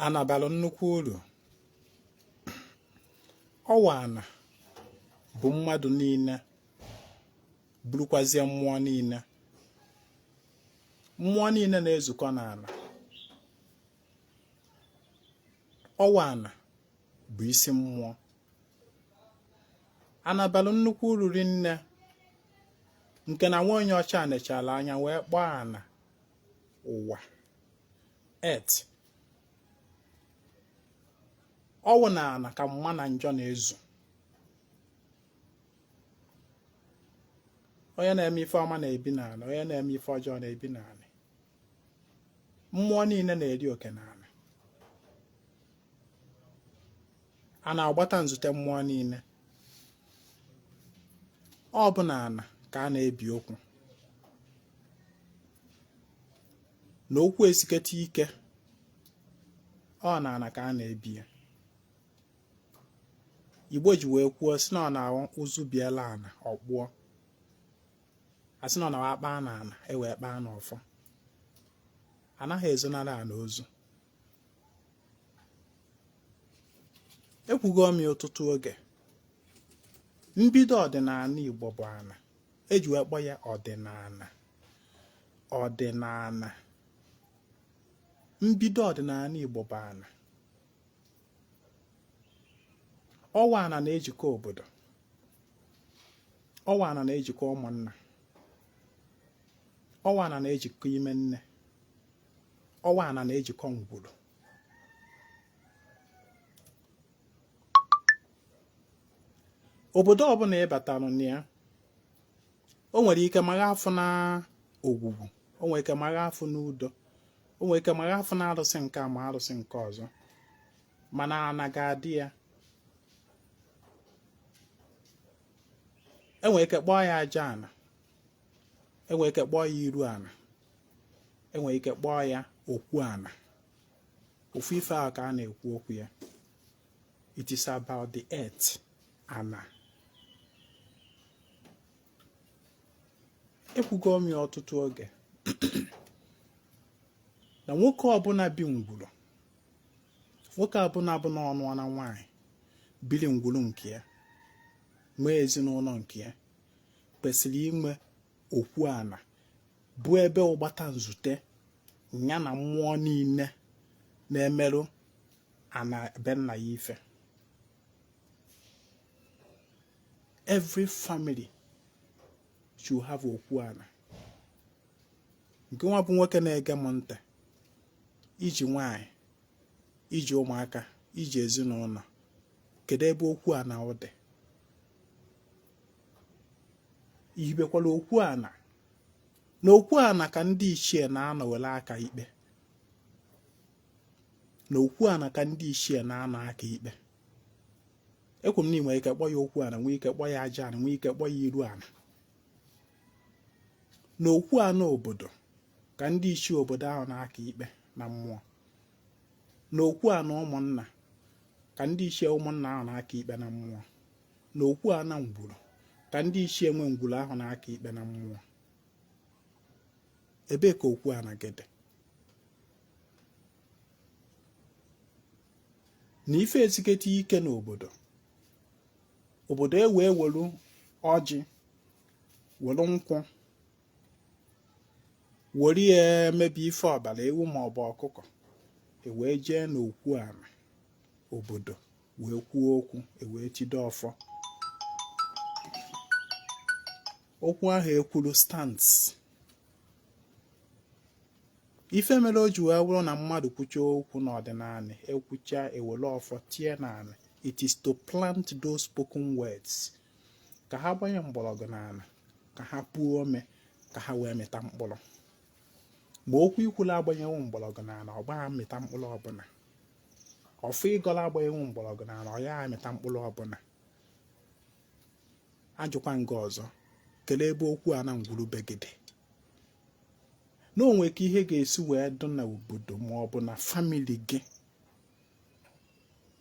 ana bara nnukwu uru ọ wụ ana bu mmadụ niile burukwazie mmụọ niile mmụọ niile na-ezukọ n'ana ọ wụ ana bụ isi mmụọ ana bara nnukwu uru rinne nke na nwa onye ọcha nechara anya wee kpọọ ana ụwa earth ọ wụ na ana ka mma na njọ na-ezu onye na-eme ife ọma na-ebi n'anị onye na-eme ife ọjọọ na-ebi n'anị mmụọ niile na-eri oke n'anị a na-agbata nzute mmụọ niile ọ bụ na ana ka a na-ebi okwu na okwu esiketa ike ọ na ana ka a na-ebi ya Igbo ji wee kwuo sị na ọ na-awụ ụzụ biela ana ọ kpụọ a sị na ọ na-awụ a kpaa na ana e wee kpaa na ọfọ anaghị ezonara ana ozu ekwugo m ya ọtụtụ oge mbido ọdịnana Igbo bụ ana e ji wee kpọọ ya ọdịnana ọdịnana mbido ọdịnana Igbo bụ ana ọ wụ ana na-ejikọ obodo ọ wụ ana na-ejikọ ụmụnna ọ wụ ana na-ejikọ ime nne ọ wụ ana na-ejikọ ngwuru obodo ọbụna ị batalụ na ya o nwere ike magha afụ na Ogwugwu o nwere ike magha afụ na Udo o nwere ike magha afụ na arụsị nke a arụsị nke ọzọ mana ana ga-adị ya enwere ike kpọọ ya aja ana enwere ike kpọọ ya iru ana enwere ike kpọọ ya okwu ana ofu ife ahụ ka a na-ekwu okwu ya it is about the earth ana ekwugo m ya ọtụtụ oge na nwoke ọbụna bi ngwuru nwoke ọbụna bụ na ọ nụọna nwaanyị biri ngwuru nke ya nwee ezinụnọ nke ya kwesịrị inwe okwu ana bụ ebe ọgbata nzute ya na mmụọ niile na-emerụ ana be nna ya ife every family should have okwu ana nke nwa bụ nwoke na-ege m ntị iji nwanyị iji ụmụaka iji ezinụlọ kedu ebe okwu ana gị dị ihibekwala okwu ana na okwu ana ka ndị ichie na-anọ were aka ikpe na okwu ana ka ndị ichie na-anọ aka ikpe ekwu m na nwere ike kpọ ya okwu ana nwee ike kpọ ya aja ana nwee ike kpọ ya iru ana na okwu ana obodo ka ndị ichie obodo ahụ na-aka ikpe na mmụọ na okwu ana ụmụnna ka ndị ichie ụmụnna ahụ na-aka ikpe na mmụọ na okwu ana ngwuru ka ndị ichie nwe ngwuru ahụ na-aka ikpe na mmụọ ebee ka okwu ana gị dị na ife esiketa ike n'obodo obodo e wee welu ọjị welu nkwụ were ya emebi ife ọbara ewu maọbụ ọkụkọ ewee jee n'okwu ana obodo wee kwuo okwu ewee jide ọfọ okwu ahụ ekwuru stands ife mere o ji wee bụrụ na mmadụ kwucha okwu n'ọdịnala ekwucha ewere ọfọ tie n'ala it is to plant those spoken words ka ha gbanye mgbọrọgwụ n'ala ka ha puo ome ka ha wee mịta mkpụrụ ma okwu ikwulu agbanyewo mgbọrọgwụ n'ala ọ gaghị amịta mkpụrụ ọbụla ọfọ ịgọlụ agbanyewo mgbọrọgwụ na ala ọ ya amịta mkpụrụ ọbụla ajụkwa m gị ọzọ kelee ebe okwu ana ngwuru be gị dị na o nwe ka ihe ga-esi wee dụ na obodo ma ọ bụ na famili gị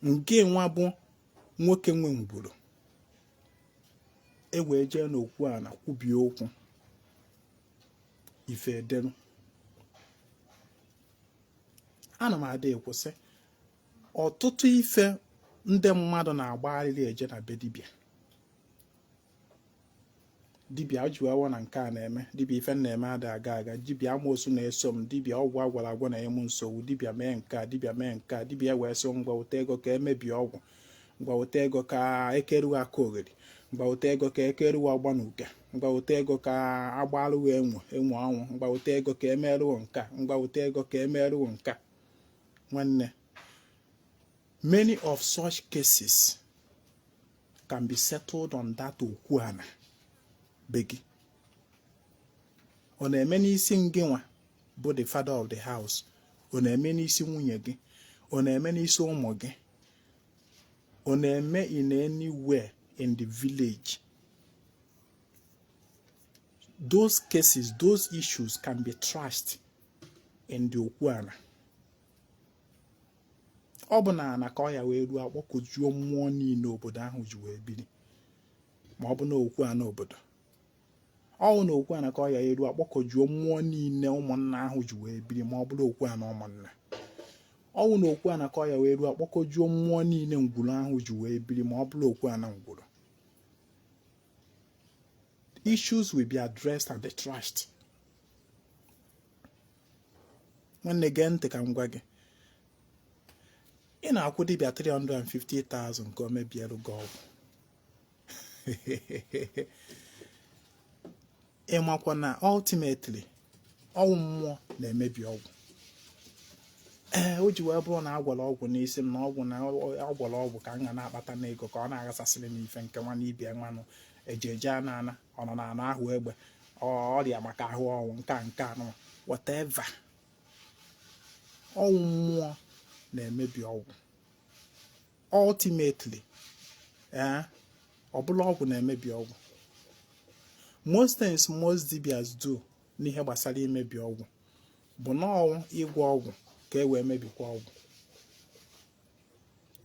nke nwa bụ nwoke nwe ngwuru e wee jee n'okwu ana kwubie okwu ife edelu ana m ada ekwu sị ọtụtụ ife ndị mmadụ na-agbagharịrị eje na be dibịa dibịa jiwawa na nke a na-eme dibịa ife m na-eme ada aga aga dibịa amoosu na-eso m dibịa ọgwụ agwọrọ agwọ na-enye m nsogbu dibịa mee nke a dibịa mee nke a dibịa wee sị ngwa weta ego ka emebie ọgwụ ngwa weta ego ka ekeruwa akaogheri ngwa weta ego ka ekeruwa ọgbanuke ngwa wete ego ka a gbalụ gị enwe enwe ọnwụ ngwa wete ego ka e merụ gị nka ngwa wete ego ka e merụ gị nka nwanne many of such cases can be settled on that okwu ana be gị ọ na-eme n'isi ngị nwa bụ the father of the house ọ na-eme n'isi nwunye gị ọ na-eme n'isi ụmụ gị ọ na-eme in anywhere in the village those cases those issues can be trashed in the okwu ana ọ bụ na ana ka ọ ya ewerụ akpọkọjuo mmụọ niile obodo ahụ ji wee biri ma ọ bụ na okwu ana obodo ọ wụ na okwu ana ka ọ ya ewerụ akpọkọjuo mmụọ niile ụmụnna ahụ ji wee biri ma ọ bụrụ okwu ana ụmụnna ọ wụ na okwu ana ka ọ ya ewerụ akpọkọjuo mmụọ niile ngwuru ahụ ji wee biri ma ọ bụrụ okwu ana ngwuru issues will be addressed and trashed nwanne gee ntị ka m gwa gị ị na-akwụ dibịa 350,000 ka o mebiere gị ọgwụ ị makwa na ultimately ọ wụ mmụọ na-emebi ọgwụ ee o ji wee bụrụ na a gwọrọ ọgwụ n'isi m na ọgwụ na a gwọrọ ọgwụ ka m ga na-akpata n'ego ka ọ na-aghasasịrị m ife nke nwa n'ibia ibe nwanụ eje eje ana ana ọ nọ n'anụ ahụ egbe ọrịa maka ahụ ọnwụ nke a nke anụwa whatever ọ wụ mmụọ na-emebi ọgwụ ultimately ee eh, ọ bụrọ ọgwụ na-emebi ọgwụ most things most dibias do n'ihe gbasara imebi ọgwụ bụ na ọ wụ ịgwọ ọgwụ ka e wee mebikwa ọgwụ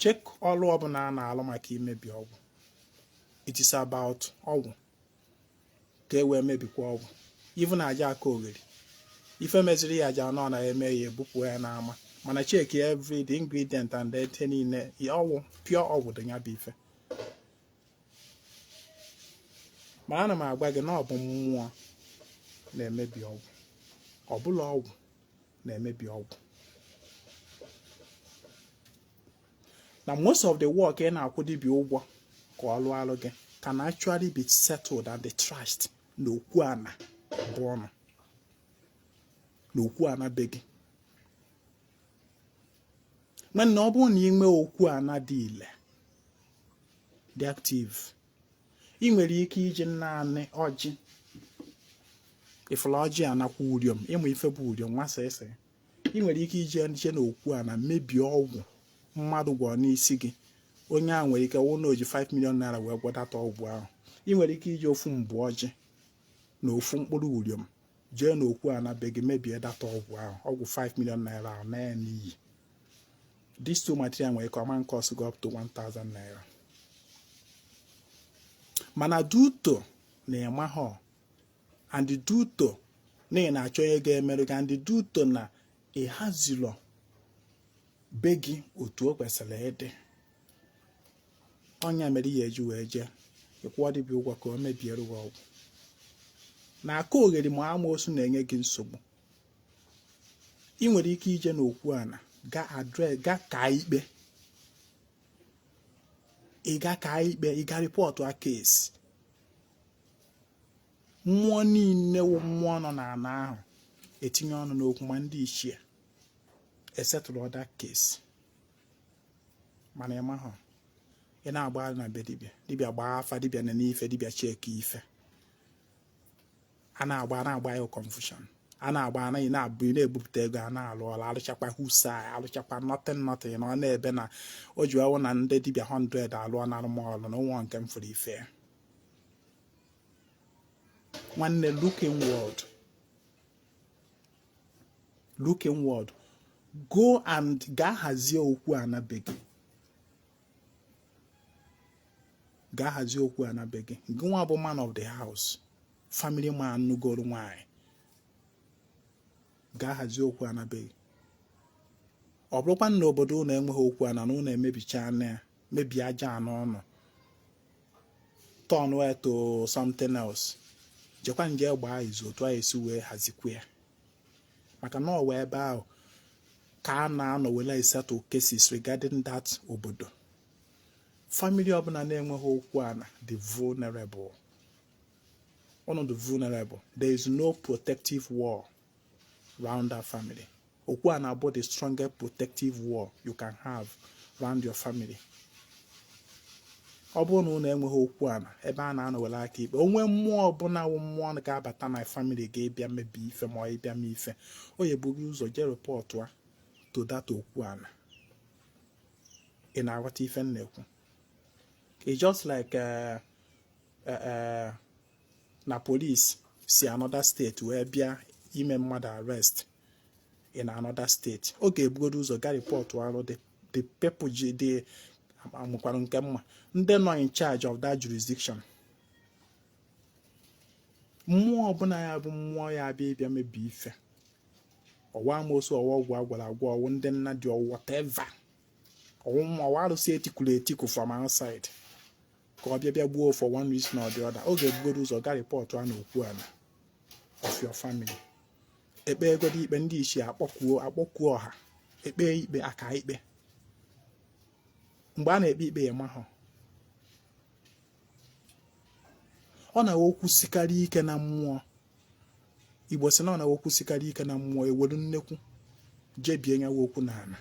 check ọlụ ọbụla a na-alụ maka imebi ọgwụ it is about ọgwụ ka e wee mebikwa ọgwụ even aja akaogheri ife meziri ya aja anọ na eme ya ebupụ ya n'ama mana check every the ingredient and ife niile ọgwụ pure ọgwụ dị ya bụ ife ma ana m agwa gị na ọ bụ mmụọ na-emebi ọgwụ ọ bụrọ ọgwụ na-emebi ọgwụ na most of the work ị na-akwụ dibịa ụgwọ ka ọ lụọlụ gị can actually be settled and trashed na okwu ana be ụnụ na okwu ana be gị nwanne ọ bụrụ na ị nwee okwu ana dị ile dị active ị nwere ike iji naanị ọjị ị fụla ọjị nakwa uriom ị ma ife bụ uriom nwa sisi ị nwere ike ije nje na okwu ana mebie ọgwụ mmadụ gwọrọ n'isi gị onye ahụ nwere ike wụ na o ji 5 million naira wee gwọ that ọgwụ ahụ ị nwere ike iji ofu mbụ ọjị na ofu mkpụrụ uriom jee na okwu ana be gị mebie that ọgwụ ahụ ọgwụ 5 million naira ahụ naa n'iyi this two material nwere ike ọ ma cost gị up to 1000 naira mana due to na ị mahọ and due to na ị na-achọ onye ga-emerụ gị and due to na ị hazilọ be gị otu o kwesịrị ịdị ọ nya mere ị ya-eji wee jee ị kwụọ dibịa ụgwọ ka o mebiere gị ọgwụ na akaogheri ma amoosu na-enye gị nsogbu ị nwere ike ije n'okwu ana ga ka ikpe ị ga ka ikpe ị ga report a case mmụọ niile wụ mmụọ nọ n'ana ahụ etinye ọnụ n'okwu ma ndị ichie esettle that case mana ị mahụ ị na-agba na be dibịa dibịa gbaa afa dibịa nenee ife dibịa cheki ife a na-agba a na-agba ya confusion a na-agba anaghị na-abụ ị na-ebupụta ego a na-alụ ọlụ alụchakwa whosai alụchakwa nothing nothing na ọ na-ebe na o ji ọwụ na ndị dibịa 100 alụọnarụ m ọlụ na o nwehọ nke m fụrụ ife nwanne look inward look inward go and gaa hazie okwu ana be gị gaa hazie okwu ana be gị gị nwa bụ man of the house family man nugoro nwanyị gaa hazie okwu ana be gị ọ bụrụkwa na obodo unu enweghị okwu ana na unu emebichaana ya mebie aja ana unu turn ya to something else jekwa nje gbaa izu otu a esi wee hazikwa ya maka na ọ wụ ebe ahụ ka a na-anọ wele esettle cases regarding that obodo family ọbụla na-enweghị okwu ana dị vulnerable unu dị vulnerable there is no protective wall round that family okwu ana bụ the strongest protective wall you can have round your family ọ bụrụ na unu enweghị okwu ana ebe a na-anọ were aka ikpe onwe mmụọ ọbụla wụ mmụọ ga-abata na family gị ịbịa mebi ife ma ọ ịbịa mee ife ọ ya-eburu ụzọ jee report to that okwu ana ị na-aghọta ife m na-ekwu it's just like uh, uh, uh, na police si another state wee bịa ime mmadụ arrest in another state ọ ga-ebugodo ụzọ gaa report arụ the people ji dị amụkwara nke mma ndị nọ in charge of that jurisdiction mmụọ ọbụla ya bụ mmụọ ya abịa ịbịa mebi ife ọ wụ amosu ọ wụ ọgwụ agwọrọ agwọ ọ wụ ndị nna dị ọ wụ whatever ọ wụ ma ọ wụ arụsị etikuru etiku from outside ka ọ bịa bịa gbuo for one reason or the other ọ ga-ebugodo ụzọ gaa report na okwu ana of your family ekpegodo ikpe ndị ichie akpọkuo akpọkuo ọha ekpe ikpe aka ikpe mgbe a na-ekpe ikpe ya mahụ ọ na-awụ okwu sikarịa ike na mmụọ igbo sị na ọ na okwu sikarịa ike na mmụọ ewelu nnekwu jebie nya wụ okwu na ana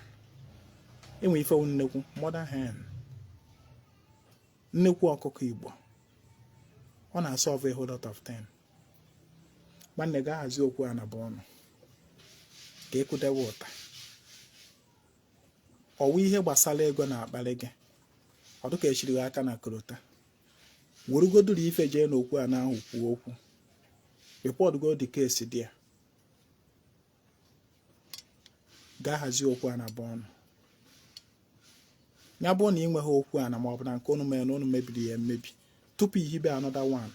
enwe ife wụ nnekwu mother hen nnekwu ọkụkọ igbo ọ na-asolve a whole lot of things nwanne gaa hazie okwu ana be unu ka ekwudewe ụta ọ wụ ihe gbasara ego na-akpali gị ọ dịka echiri gị aka na korota werugoduru ife jee n'okwu ana ahụ kwuo okwu reportgo the case there gaa hazie okwu ana be unu ya bụrụ na ị nweghị okwu ana ma ọ bụ na nke unu mere na unu mebiri ya emebi tupu ihibe another one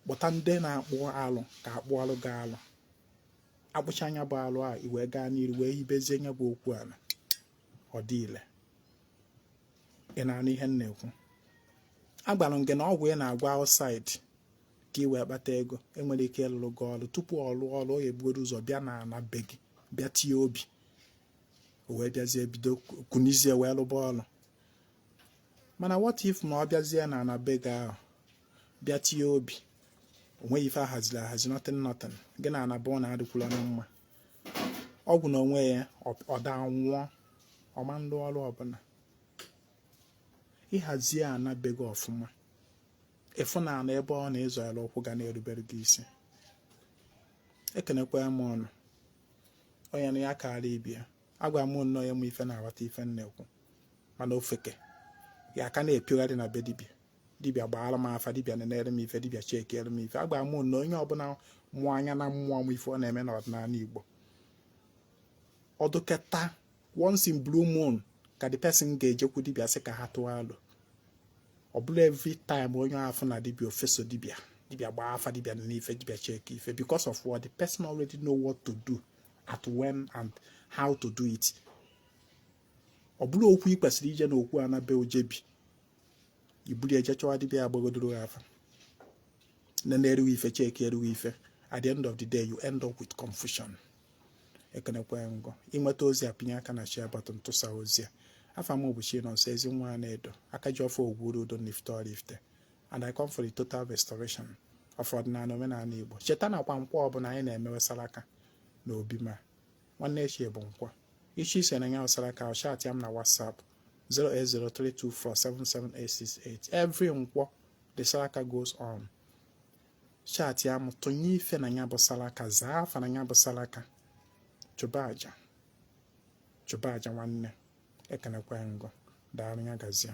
kpọta ndị na-akpụ alụ ka akpụọ alụ gaa alụ akpụcha nya bụ alụ a i wee gaa n'iru wee hibezie nya bụ okwu ana ọ dị ile ị na-anụ ihe m na-ekwu agwara m gị na ọgwụ ị na-agwọ outside ka ị wee kpata ego nwere ike ịlụrụ gị ọrụ tupu ọ lụọ ọrụ ọ ga-ebugodo ụzọ bịa na ana be gị bịa tie obi o wee bịazie bido kunizie wee lụba ọrụ mana what if na ọ bịazie na ana be gị ahụ bịa tie obi o nweghị ife ahaziri ahazi nothing nothing gị na ana be unu adịkwurọ na mma ọgwụ na onwe ya ọ daa nwụọ ọ ma alụ ọrụ ọbụla ịhazie ana be gị ọfụma ịfụ na ana ebe ọ na-azọ ya ụkwụ ga na-erubere gị isi ekenekwa m unu onye na ya karịa ibe ya agwa m unu onye ma ife na-aghọta ife m na-ekwu mana ofeke ya aka na-epiogharị na be dibia dibịa gbaara m afa dibịa nenere m ife dibịa checkiere m ife agwa m unu na onye ọbụla mụ anya na mmụọ ma ife ọ na-eme n'ọdịnala Igbo ọ dịketa once in blue moon ka the person ga-ejekwu dibịa sị ka ha tụọ alo ọ bụrọ every time onye afụna dibịa o feso dibịa dibịa gbaa afa dibịa nee ife dibịa check ife because of what the person already know what to do at when and how to do it ọ bụrụ okwu ị kwesịrị ije na okwu ana be o jebe i bulie je chọwa dibịa agbagodoro ha afa na na-erughị ife cheki erughị ife at the end of the day you end up with confusion ekenekwa ngọ i nweta ozi a pịnye aka na share button tụsa ozi a afa m bụ Chinonso Ezinwa Anaedo aka ji ọfọ ogwuru udo n'Ifite Ọraifite and I come for the total restoration of ọdịnala omenala Igbo cheta na kwa nkwọ ọbụla anyị na-emewe salaka na obi m a nwanne echi bụ nkwọ ị chọọ iso na nya bụ salaka chatịa m na whatsapp 08032477868 every nkwọ the salaka goes on chatịa m tụnye ife na ya bụ salaka zaa afa na ya bụ salaka chụba aja nwanne ekenekwa ngụ daalụ ya gazie